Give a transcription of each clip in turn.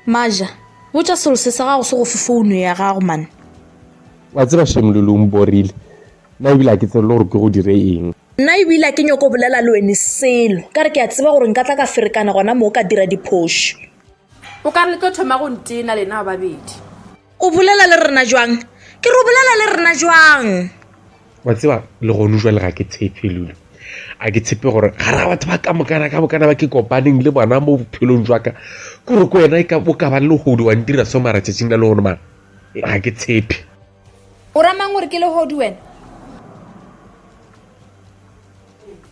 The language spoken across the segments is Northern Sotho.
maja botša selose sa gago se go fe founo ya gago mane wa tseba shemololong borile nna ebile a ke tsebele gore ke go dire eng nna ebile a ke nyoko bolela le wene selo ka re ke a tseba gore nka tla ka ferekana gona moo ka dira diphošo o ka re le tlo thoma go ntena lena babedi O bolela le rena jwang? Ke re o bolela le rena jwang? wa tseba le gone jwa le ga ke tshepe lule a ke tshepe gore ga ra batho ba ka mokana ka bokana ba ke kopaneng le bona mo bophelong jwa ka kore ko wena e ka bo ka ba le hodi wa ntira so mara tšatšing la le gone mara ga ke tshepe o ramang gore ke le hodi wena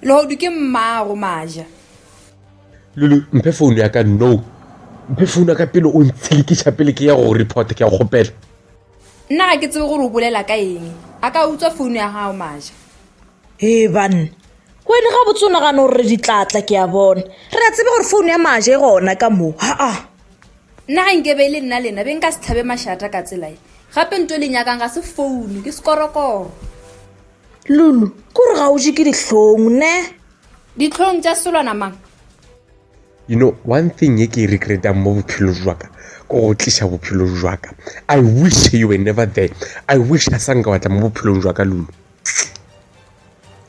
le hodi ke mmago maja Lulu, mphe phone ya ka no. Mphe phone ya ka pele o ntshilikiša pele ke ya go report ke ya go kgopela. Nna ga ke tsebe gore o bolela ka eng. A ka utswa phone ya gago maja. He banna. Wena ga botse o nagana gore re ditlatla ke a bona. Re a tsebe gore phone ya maja e gona ka mo. Ha a. Nna ga nkebe le nna lena be nka se tlhabe mašata ka tsela e. Gape nto le nyakang ga se phone ke sekorokoro. Lulu, kore ga o je ke dihlong ne? ditlhong tša selwana mang you know one thing ye ke e regretang mo bophelo jwaka ko go tliša bophelo jwaka i wish you were never there i wish a sanka watla mo bophelong jwaka lulo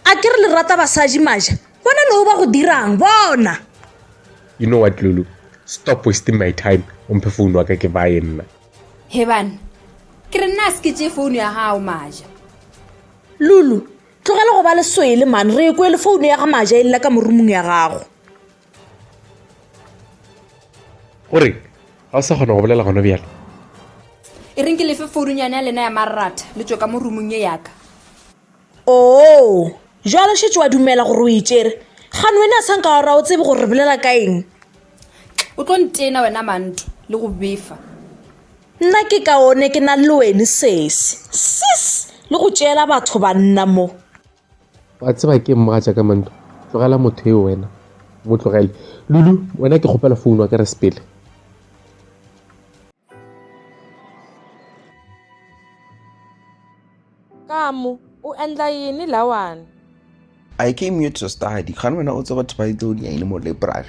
a ke re le rata basadi maja bona leo ba go dirang bona you know what lulu stop wasting my time o mphe founu wa ka ke baye nna hebane ke re nna a se ke tee founu ya gago maja lulu Tlogela go ba le swele man re ekwe le founu ya ga maja e lela ka morumong ya gago. gore ga o sa kgona go bolela gona bjale e reng ke lefe foununyane ya lena ya marratha le tswe ka mo rumong ye yaka Oo, jwale šetše wa dumela gore o e tšere. Gane wena a sanka wa ra o tsebe gore re bolela ka eng. o tlo ntena wena manto le go befa Nna ke kaone ke na le wene sesi. Sis! Le go tšeela batho banna mo. Wa tseba ke mmaja ka manto. Tlogela motho eo wena. Mo tlogele. Lulu, wena ke kgopela founu wa ka re sepele. Kamu, u endla yini lawani? I came here to study. Kgani wena u tseba title ya yini mo library?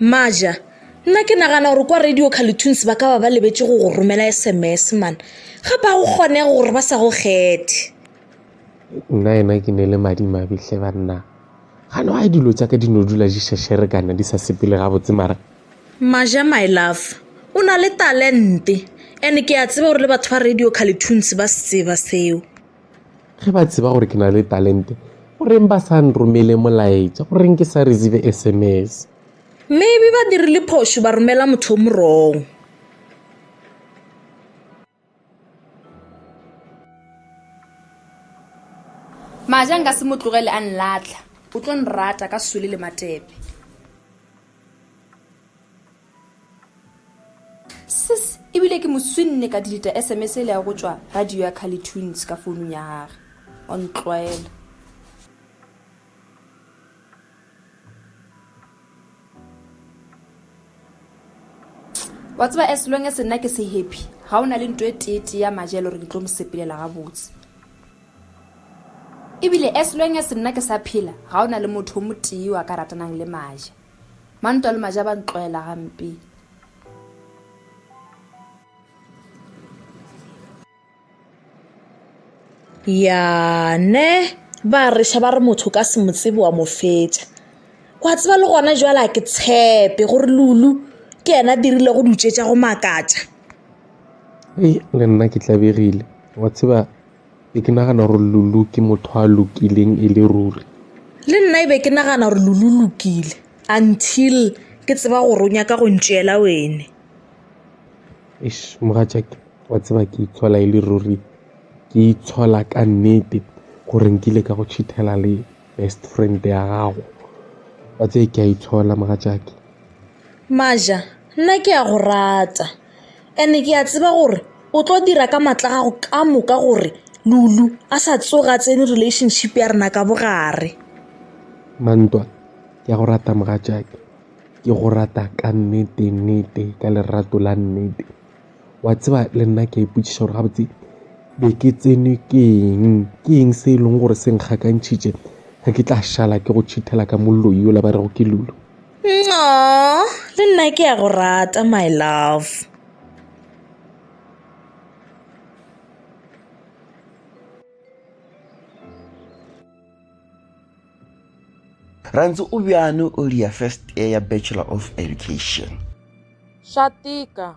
maja nna ke nagana gore kwa radio carletoons ba ka ba ba lebetse go go romela sms mana ga ba go kgone gore ba sa go kgethe nna ena ke ne le madimabihle banna gane wa dilo tsa ka di no dula di šešere kana di sa sepele gabotse mara maja my love o na le talente and ke a tseba gore le batho ba radio carletoons ba se tseba seo Ge ba tseba gore ke na le talente, goreng ba sa nromele molaetša? Goreng ke sa receive SMS? Maybe ba dirile phošo ba romela motho o mo wrong. Maja nka se mo tlogele a nlatlha. O tlo nrata ka sole le matepe. Sis, ebile ke mo swinne ka deleta SMS e le ya go tšwa radio ya Kali Tunes ka founung ya gage. O ntlwaela. wa tseba as long as nna ke se happy ga o na le nto e teetee ya maja e le gore ke tlo mo sepelela gabotse ebile as long as nna ke sa phela ga o na le motho o motee wa ka ratanang le maja Mantwa le maja ba ntloela gampe. Ya ne ba reša ba re motho ka se mo tsebe wa mo fetša. Wa tseba le gona jwale a ke tshepe gore Lulu ke yena dirile go dutšetša go makatša. Ee, le nna ke tlabegile wa tseba Be ke nagana gore Lulu ke motho a lokileng e le ruri. Le nna e be ke nagana gore Lulu lokile until ke tseba gore o nyaka go ntšeela wene. Eish mogatšake wa tseba ke itshola e le ruri ke itshola ka nnete gore nkile ka go cheatela le best friend ya gago wa tseye ke a itshola mogatšake. Maja nna ke a go rata. And-e ke a tseba gore o tlo dira ka maatla a gago ka moka gore Lulu a sa tsoga a tsene relationship ya rena ka bogare. Mantwa, ke a go rata mogatšake, ke go rata ka nnete nnete ka lerato la nnete. Wa tseba le nna ke a ipotšiša gore gabotse be ke tsenwe ke eng, ke eng se e leng gore se nkgakantšhitše ge ke tla šala ke go tšhithela ka moloi yola ba rego ke Lulu. Aww, le nna ke a go rata my love. Rantsi o bjano o lia first year ya Bachelor of Education. Swa tika.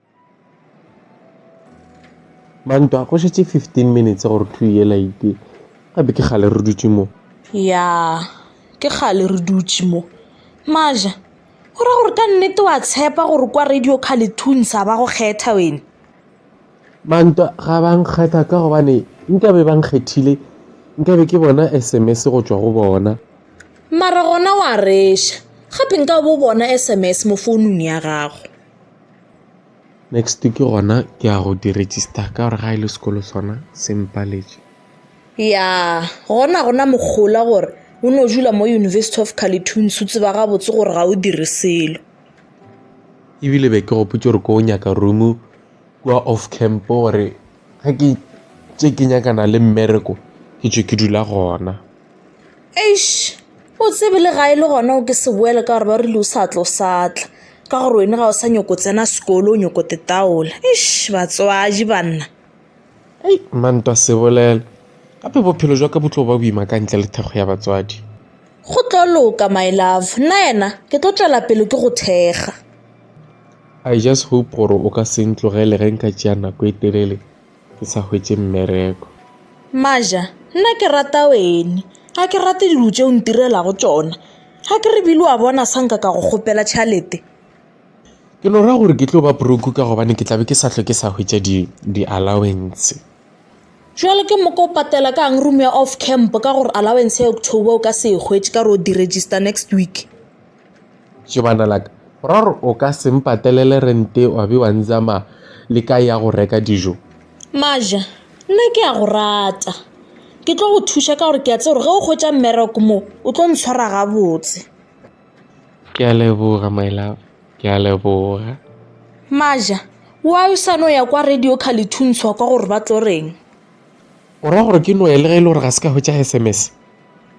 Mantwa, go šetše 15 minutes gore thwi yela e ite. Gape ke kgale re dutše mo. Ya, ke kgale re dutše mo. Maja, go ra gore ka nnete wa tshepa gore kwa Radio Carletoons a ba go kgetha wene? Mantwa, ga ba nkgetha ka gobane nkabe ba nkgethile nkabe ke bona SMS go tšwa go bona. Mara gona wa reša, gape nkabe o bona SMS mo founung ya gago. Next ke gona ke ya go di register ka gore ga e le sekolo sona se mpaletše. Ya gona gona mogola gore o no dula mo University of Carleton's o tseba gabotse gore ga o dire selo. Ebile be ke gopotse gore ko o nyaka room kua off camp gore ge ke tše ke nyakana le mmereko ke tšwe ke dula gona. Eish o tsebe le ga e le gona o ke se boele ka gore ba rile o sa tla o sa tla, ka gore wena ga o sa nyoko tsena sekolo o nyoko tetaola. Eish batswadi banna. Hei manta se bolela gape bophelo jwa ka bo tlo ba boima ka ntle le thekgo ya batswadi. Go tlo loka my love nna yena ke tlo tšwela pele ke go thekga. I just hope gore o ka se ntlogele ge nka tšea nako e telele ke sa hwetše mmereko. Maja, Nna ke rata wene. Ga ke rate dilo tše o ntirelago tšona. Ga ke re bile wa bona sa nka ka go kgopela tšhalete. Ke no ra gore ke tlo ba broke ka gobane ke tla be ke sa hlwe ke sa hwetša di, di allowance. Jwale ke moka o patela ka'ng room ya off camp ka gore allowance ya October o ka se e hwetše ka gore o di-register next week? Tjo bana la ka, o ra gore o ka se mpatelele rente wa be wa nzama le ka ya go reka dijo? Maja, nna ke a go rata. Ke tlo go thuša ka gore ke a tse gore ge o kgwetša mmereko mo, o tlo ntshwara gabotse. Ke a leboga, my love. Ke a leboga. Maja, wa yo sa no ya kwa radio ka lethuntsho kwa gore ba tlo reng? O ra gore ke no ya le ge e le gore ga se ka hwetša SMS?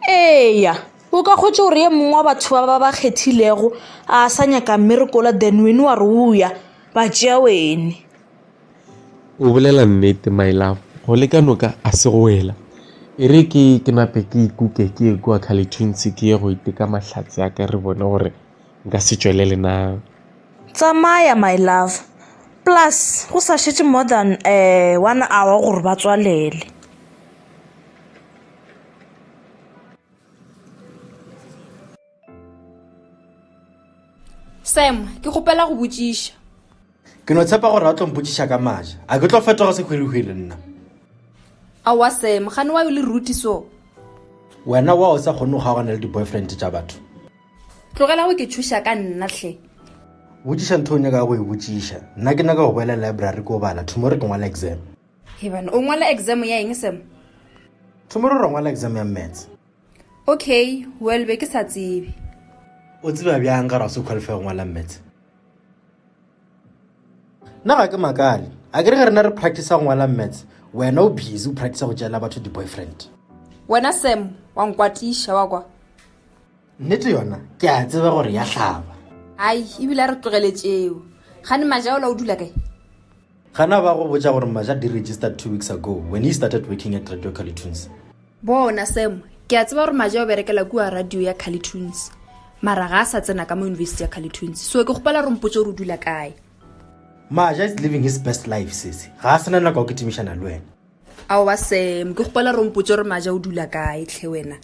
Eya, o ka kgwetša gore ye mongwe wa batho ba ba ba kgethilego a sa nyaka mmerekola then wene wa re o ya ba tšea wene. O bolela nnete my love, go le ka noka a se go wela. E re ke ke nape ke ikuke ke ye kua Kgalethunsi ke ye go iteka mahlatse a ka re bone gore nka se tšwelele na. Tsamaya my love, plus go sa šetše more than um one hour gore ba tswalele. sam ke kgopela go botšiša ke no tshepa gore a tlo mpotšiša ka maja a ke tlo fetoga sehwirihwiri nna aowa sam gane wa yo le ruti so wena wa o sa kgone go kgaogana le di-boyfriend tša batho tlogela go ke thuša ka nna tlhe botšiša ntho o nyaka go e botšiša nna ke nyaka go boela library ko bala tomorrow ke ngwala exam Heban, o ngwala exam ya eng Sam? Tomorrow ra ngwala exam ya maths. Okay, well be ke sa tsebe. O tseba bjang ga ra se qualify go ngwala maths? Nna ga ke makale. A ke re ge rena re practice go ngwala maths, wena o busy o practice go tšeela batho di-boyfriend. Wena Sam, wa nkwatiša wa kwa. Nnete yona ke a tseba gore ya hlaba. Ai, ebile a re tlogeletšeo. Gane Majaola o dula kae? Gana ba go botša gore Maja di registered two weeks ago when he started working at Radio Calitunes. Bona Sam, ke a tseba gore Maja o berekela kua radio ya Calitunes. Mara ga a sa tsena ka mo university ya Calitunes. So ke gopela gore mpotse gore o dula kae. Maja is living his best life sese. Ga a sena nako ya go kitimišana le wena. Aowa Sam, ke gopela gore mpotse gore Maja o dula kae tlhe wena.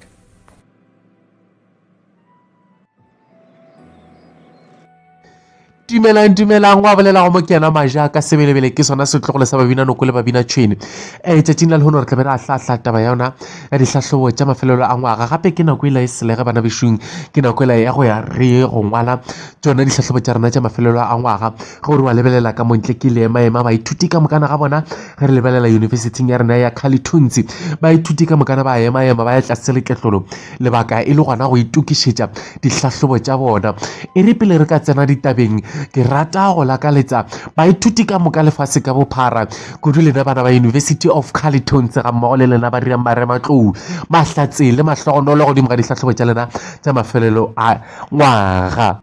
dumelang dumelang wa bolela go mokena maja ka sebelebele ke sona setlogolo sa babina noko le babina tšhwene um tšatšing la lehono re tla be re a hlahla taba ya yona ya dihlahlobo tša mafelelo a ngwaga gape ke nako e la e selege bana bešung ke nako e la ya go ya re go ngwala tsona dihlahlobo tša rena tša mafelelo a ngwaga Ge o re wa lebelela ka montle ke ile ema ema baithuti ka mokana ga bona ge re lebelela yunibesithing ya rena ya Kgalithunzi baithuti ka mokana ba ema ema ba ya tlase leketlolo lebaka e le gona go itokišetša dihlahlobo tša bona e re pele re ka tsena ditabeng ke rata go lakaletsa baithuti ka moka lefase ka bophara kudu lena bana ba University of Kgalithunzi ga mmogo le lena ba dirang marematlou mahlatse le mahlogonolo godimo ga dihlahlobo tša lena tša mafelelo a ngwaga